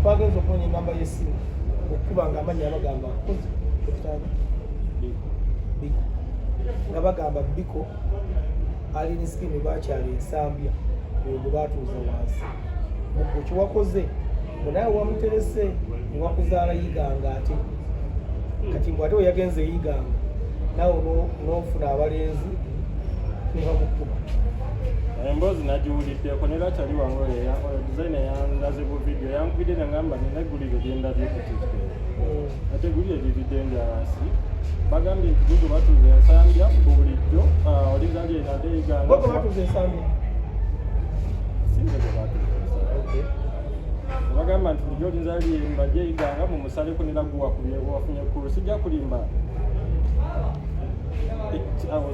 twagenza okunoonya enamba y'essimu okukuba nga amannya abagamba nkozi ekitanda biko nga bagamba biko alina sikimu bakyali ensambya oyo gwe baatuuza wansi mugwe kyewakoze mbu naye wamuterese newakuzaala yiganga ate kati mbu ate weyagenze yiganga nawe n'ofuna abalenzi nebamukuba emboozi nagiwuliddeko ne lakyali wange oyo yakola dizayina yandaze bu vidiyo yankubidde nangamba nina eggulire lyendabye ku tiktok mm. ate eggulire liridde enjalansi bagambye nti gugo batuuza ensambya ku bulijjo ah, oliza lyenade egangago batuuza ensambya sinze gwe batuuza ensambya bagamba nti bulijjo olinza lyemba gyeyiganga mu musaleko neraguwakubyebwafunye kulu sijja kulimba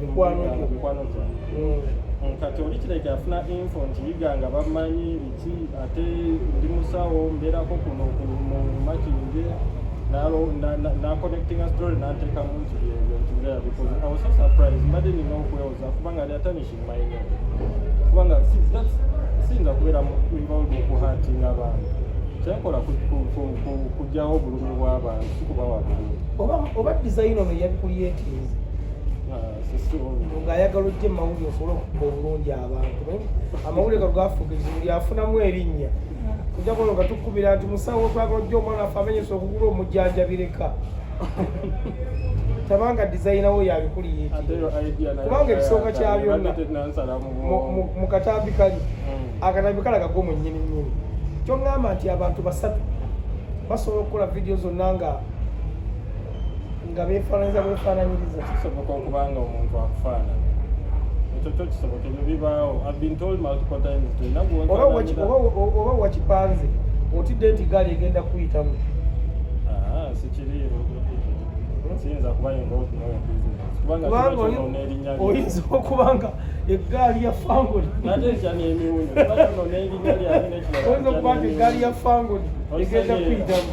mikwano gyo mikwano gyo mm. kati oli kireke afuna info nti yiga nga bamanyi biki ate ndi musawo mbeerako kuno mu makinge naconnectinga story nanteekamu nti byebyo nti ngeya because i was so surprised mbadde nina okwewoza kubanga ali atanishing my name kubanga siyinza kubeera involved mu kuhatinga abantu kyenkola kujjawo obulumi bw'abantu sikubawa bulumi oba dizayina ono yabikuyeetinze nga ayagala ojja emawulire osobole okukuba obulungi abantu amawulire ga gafuuka ekizibu lyafunamu erinnya ojja kuba nga tukubira nti musawo twagala ojja omwana afe amenyesa okugula omujjanjabireka tabanga dizayina wo yabikuli kubanga ekisooka kya byonna mu katambi kali mm. akatambi kalaga go mwennyini nnyini kyoŋŋamba nti abantu basatu basobola okukola vidiyo zonna nga nga beefaananyiza bwefaananyiriza kisoboka okuba nga omuntu akufaanana ekyo kyo kisoboka ebyo bibaawo oba wakipanze otidde nti gaali egenda kuyitamu ah, sikiriiwo kiyinza kuba yinga okunoa oyinza okuba nga eggaali ya fangoni oyinza okuba nti eggaali ya fangoni egenda kuyitamu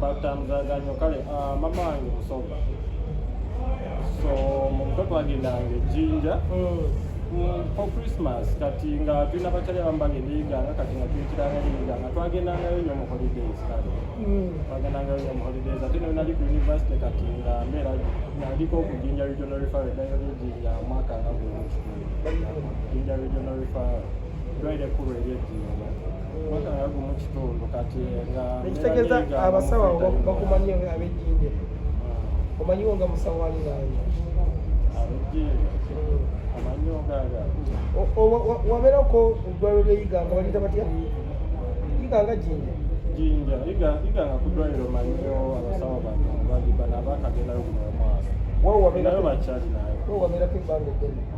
batamuzaganya kale ah, mama wange musoga so mumutwe twagendanga ejjinja for christmas kati nga tulina bakyali abambanga ebiyiganga kati nga tuyitiranga ebiyiganga twagendangayo nyo mu holidays kale mm. twagendangayo nyo mu holidays ate nayo nali ku university kati nga mbeera naliko okujinja regional referral edayo lyejinja mwaka nga guno kijinja regional referral dwaire kulu eryejinja ekitegeeza abasawo bakumanyi abejjinde ah. omanyiwo nga musawo ali nange wabeerako eddwaliro lyeyiganga balita batya iganga jinja jinja iganga ku ddwaliro manyiyo abasawo bano bagibana bakagenda yo kuno omwaka nayo bakyali nayo wabeerako ebbanga eddene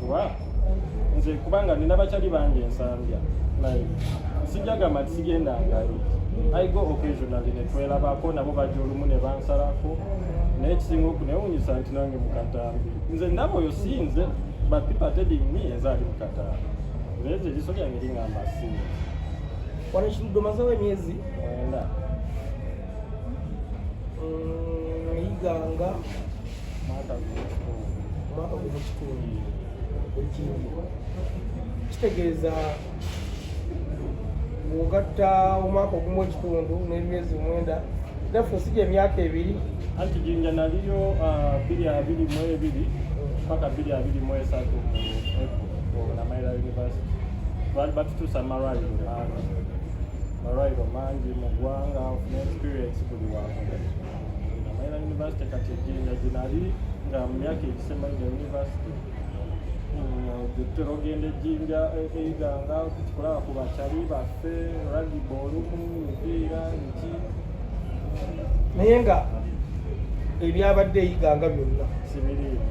kuba nze kubanga nina bakyali bangi ensambya like sijagamba nti sigenda ngayo i go occasionally netwelabako nabo bajja olumu ne bansalako naye ekisinga okunewunyisa nti nange mukatambi nze ndaba oyo si nze but people telling me enze ali mukatambi nze nze eriso lyange lingamba si wano ekirudo mazewo emyezi mwenda mm, iganga omwaka gumu kikumi ekindi kitegeeza bwogatta omwaka ogumu ekitundu n'emyezi mwenda naffe osija emyaka ebiri anti jinja naliyo ah, biri abiri mu ebiri paka biri abiri mu esatu mu namaira university twali batutuusa malwaliro mangi malwaliro mangi mu ggwanga ofuna experience buli wakola Namayina yunivasite kati ejjinja ginali nga mu myaka egisembayo nga yunivasite tutera ogenda ejjinja eiganga tukikulaba ku bakyali baffe ragiba olumu mipiira nki naye nga ebyabadde eyiganga byonna sibiriimu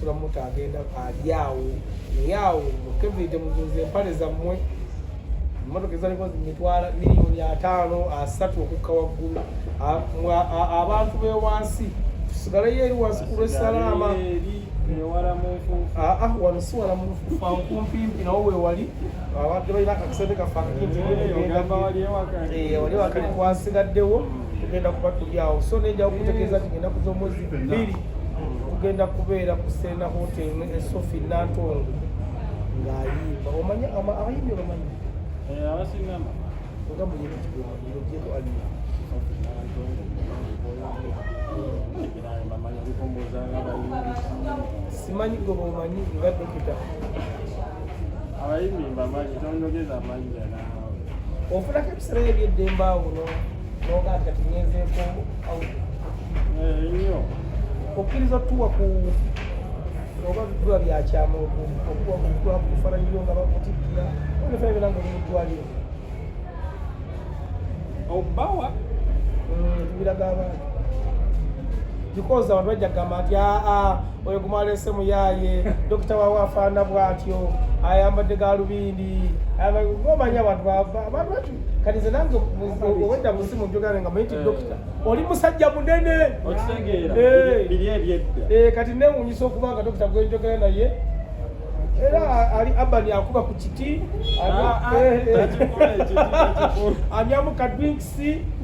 sula muto agenda ali awo naye awo mukevide muzuuza empale zammwe emmotoka ezaliko zimitwala miliyoni ataano asatu okukka waggulu abantu bewansi tusigaleyo eri wansi ku lwesalaama ah, ah, wano siwala munkumpimpi nawo wewali abadde balina akakisente kaffe akakintwali eh, wakali kwasigaddewo tugenda kuba tuli awo so nenjakutegeeza tigenda kuza omwezi bbiri kugenda kubeera ku Serena Hotel ne Sophie Nantongo ng'ayimba omanya abayimbi obamanyi eh, abasingama nga muyimbi kigwamanyiro gyeko alina simanyi gwe bomanyi nga dokita abayimbi mbamanyi tonyogeza amanyi ofulako ebiseera ebyeddembe awo okkiriza otuwa ku oba biba byakyama okuwa kufananyiyo nga bakutikkira onefana bera nga olimudwaliro obawa tubiraga abantu because abantu bajja kugamba nti aa oyo gumwalese muyaye dokita wawe afaana bwatyo ayambadde galubindi omanya abantu kati nze nange obwedda musimu njogera nga mayiti eh. dokita oli musajja munene eh. kati newunyisa okuba nga dokita gwenjogera naye era ali abani akuba ku kiti ah, ah. anyamu kadwinkisi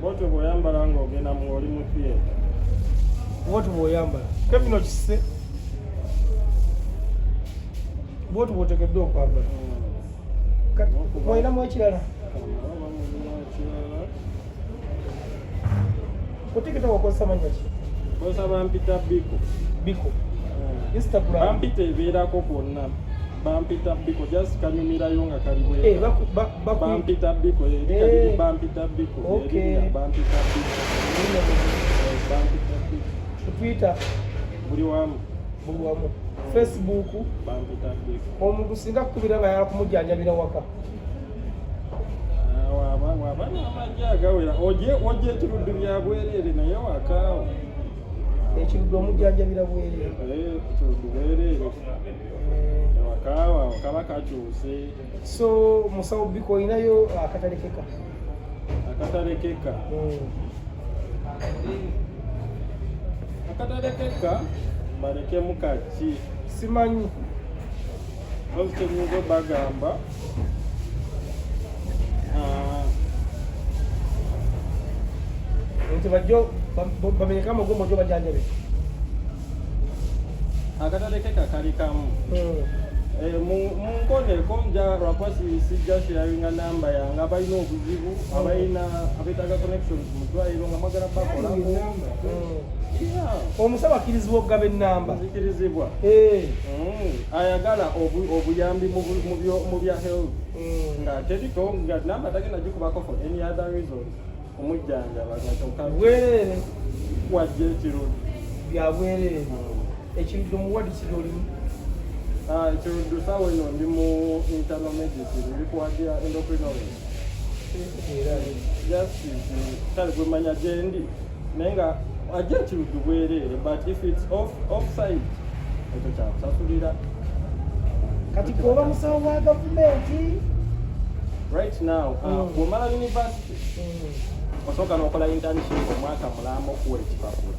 Bwotyo bwoyambala nga ogenda mu oli mu theatre. Bwotyo bwoyambala. Kevin okisse. Bwotyo bwotekeddwa okwambala. Mm. Olinamu ekirala. Ku TikTok okozesa mannya ki? Nkozesa bampita Biko. Biko. Mm. Instagram. Bampita ebeerako kwonna. bampita biko just kanyumirayo nga kali bweka eh, baku, ba, baku. bampita biko eh, eh. kali bampita biko eh, okay. eh, bampita biko eh, bampita biko twitter buli wamu buli wamu facebook bampita biko omuntu singa kukubira nga yala kumujanjabira waka agawera oje oje ekiruddu bya bwereere naye wakaawo ekiruddu omujjanjabira bwereere eh, ekiruddu bwereere kaba kakyuse so musawo biko olinayo akatalekeka akatalekeka akatalekeka balekemu kaki simanyi ozi kyenyinza obagamba nti bajjo bamenyeka amagumba jo bajanjabe akatale ke kakali kamu hmm. eh, munkoneko nja lwakuba sijja sharinga namba yange abalina obuzibu hmm. abalina abetaaga connections mu ddwaliro nga mwagala bakolako hmm. omusaba akkirizibwa okugaba ennamba zikirizibwa eh. ayagala obuyambi mu bya health mm. nga teriko nga namba tagenda gikubako for any other reason omujjanjaba nga kyokka bwerere wajja ekirundu bya bwerere mm. ekiruddu muwadi kiri olimu ah, ekiruddu saawa eno ndi mu internal medicine ndi kuwagira endocrinology just kale gwemanya gyendi naye nga ajja kiruddu bwereere but if its off offside ekyo kyakusasulira kati kuoba musawo wa gavumenti right now uh, mm. bwomala university mm. osooka nokola internship omwaka mulamba okuwa ekipapula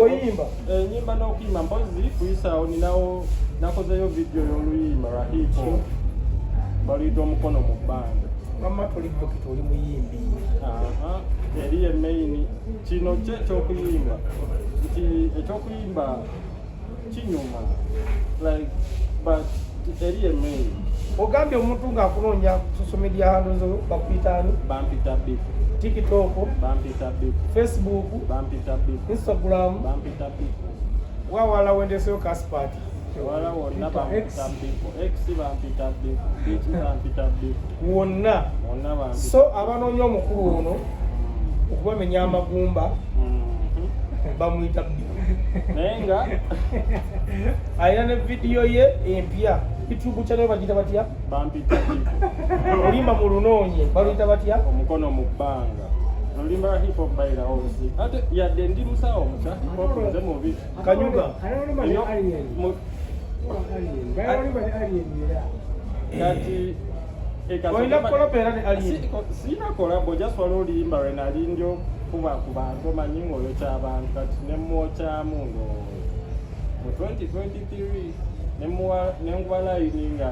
oyimba enyimba eh, n'okuyimba mpozi kuyisaawo ninawo nakozeyo vidiyo y'oluyimba lwa hipo baluyita omukono mu bbanga mama toli dokita oli muyimbi eri ye main kino kye ekyokuyimba nti ekyokuyimba kinyuma like but eri email ogambye omuntu ng'akunoonya ku social media handles bakuyita ani bampita bip tiktok bampita bip facebook bampita bip instagram bampita bip wawala wendeseyo kasipati wala wonna bampita bip x bampita bip biki bampita bip wonna wonna bampita so abanoonya omukulu ono okubamenya amagumba mm-hmm. bamuyita bip naye nga alina ne vidiyo ye empya youtube channel bagita batya bampita olimba mu lunoonye baluyita batya omukono mu bbanga olimba hip hop bayira obusi ate yadde ndi musawo musa nze mubi kanyuga kati olina kolabo era ne alien sina kolabo just wali oluyimba lwe nali ndi okuba ku bantu omanyi ng'oyo ky'abantu kati ne mmwokyamu ngo mu 2023 ne muwa ne nkuba layini nga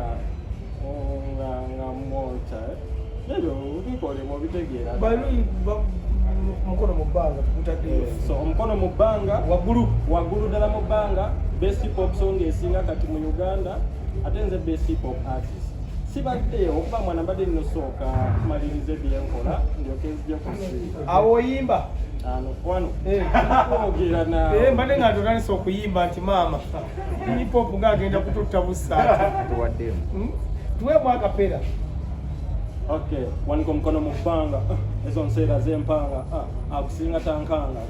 nga nga mmwokya ebyo bikolebwa obitegeera omukono mu bbanga tukutaddeyo eh, so omukono mu bbanga waggulu waggulu ddala mu bbanga best pop song esinga kati mu uganda ate nze best pop artist sibadde okuba mwana mbadde nnosooka kumaliriza ebyenkola ndyoke nzija kusiiba awo oyimba eh. eh, mbadde nga ndotanisa okuyimba nti maama hipop nga agenda kututta busaati hmm? tuweemu akapera okay wanika omukono mu bbanga ah, ezo nseera zempanga ah, akusinga tankanga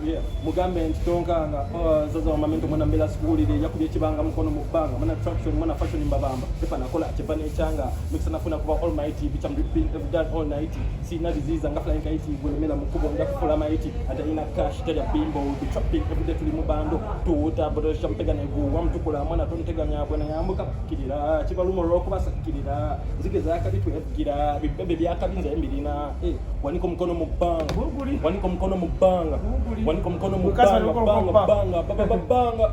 mugambe nti tonkanga ah, zaza wamamento mwana mbeera sikuwulire yakubye ekibanga mukono mu bbanga mwana traction mwana fashion mbabamba Pepa nakola chepa nechanga mixana funa kuba all mighty bitch I'm ripping every day all night see na disease anga flying kite gwe mena mukubo nda kufula mighty ata ina cash tell your bimbo we be trapping every day tuli mubando to water but sham pega na gu wam tukula mwana ton tega nya bwana ya muka kilira chiba lumo ro kuba sakilira zike za kabi tu gira bibebe bya kabi nze mbilina eh waniko mkono mubang waniko mkono mubanga waniko mkono mubanga banga banga banga banga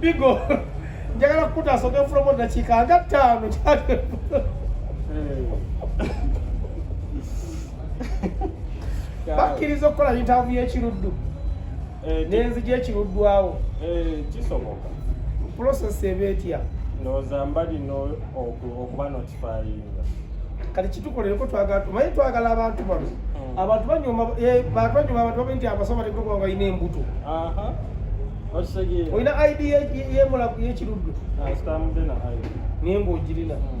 bigo njagala kukutaasa ogenfulamu eddakiika nga ttaano bakkiriza okukola yitaavu y'ekiruddu eh, nenzija ekiruddwawo eh, kisoboka process eba etya ndowooza mbalina okuba notifayinga kati kitukolereko twagala tumanyi twagala abantu bano hmm. abantu banyuma eh, bantu banyuma abantu babe nti abasoma tegogonga olina embuto olina id yemulaku yekiruddu ah, naye ngaogirina hmm.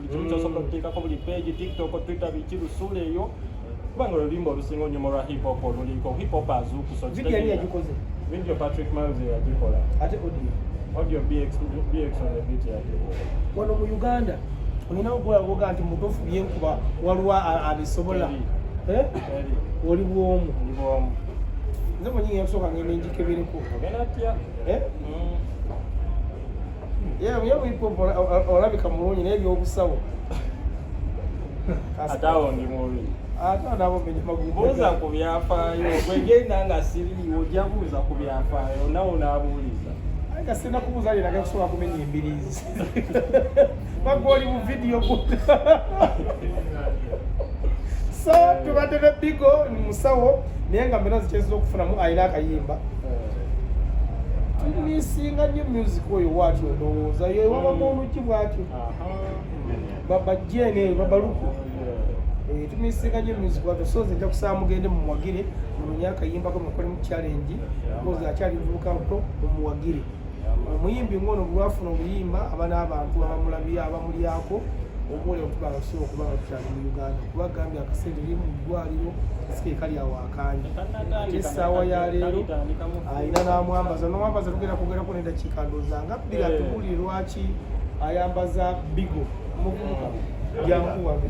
Twitter osobola okuteekako buli page tiktok twitter biki lusuula eyo kubanga oluyimba olusinga onyuma olwa hip hop oluliko hip hop azuukusa video patrick miles yagikola ate audio audio bx bx on the beat yagikola wano mu uganda olina okulagoga nti mutuufu byenkuba waliwo abisobola eh? oli bwomu nze mwenyinga yakusooka ngenda enjikebereko ogenda tya eh? mm. olabika mulungi naye byobusawo ate awo ndi mubi ate nabo buuza ku byafaayo gwegenda nga siriiwo ojja buuza ku byafaayo nawe onaabuuliza nga sirina kubuuza linaga kusobola kumenya embiriizi bagwa oli mu vidiyo so tubadde ne bigo musawo naye nga mbera zikyezza okufunamu alina akayimba tumisinga nyo music oyo watyo ndowooza yewabamu oluki bwatyo babajene babaluku eh, tumisinga nyo music watyo so nze nja kusaba mugende mumuwagire munonye akayimbako mukolemu challenge oza akyali muvubuka muto mumuwagire omuyimbi ngono bulwafuna obuyimba aba n'abantu abamulabi abamulyako omuwole okuba abasobola okuba nga tukyali mu uganda kuba gambye akasente eri mu ddwaliro sikekali awaaka kandi ate essaawa ya leero alina n'amwambaza n'omwambaza tugenda kwogerako n'eddakiika ndooza nga bbiri atubuulire lwaki ayambaza bigo muvubuka jankuwage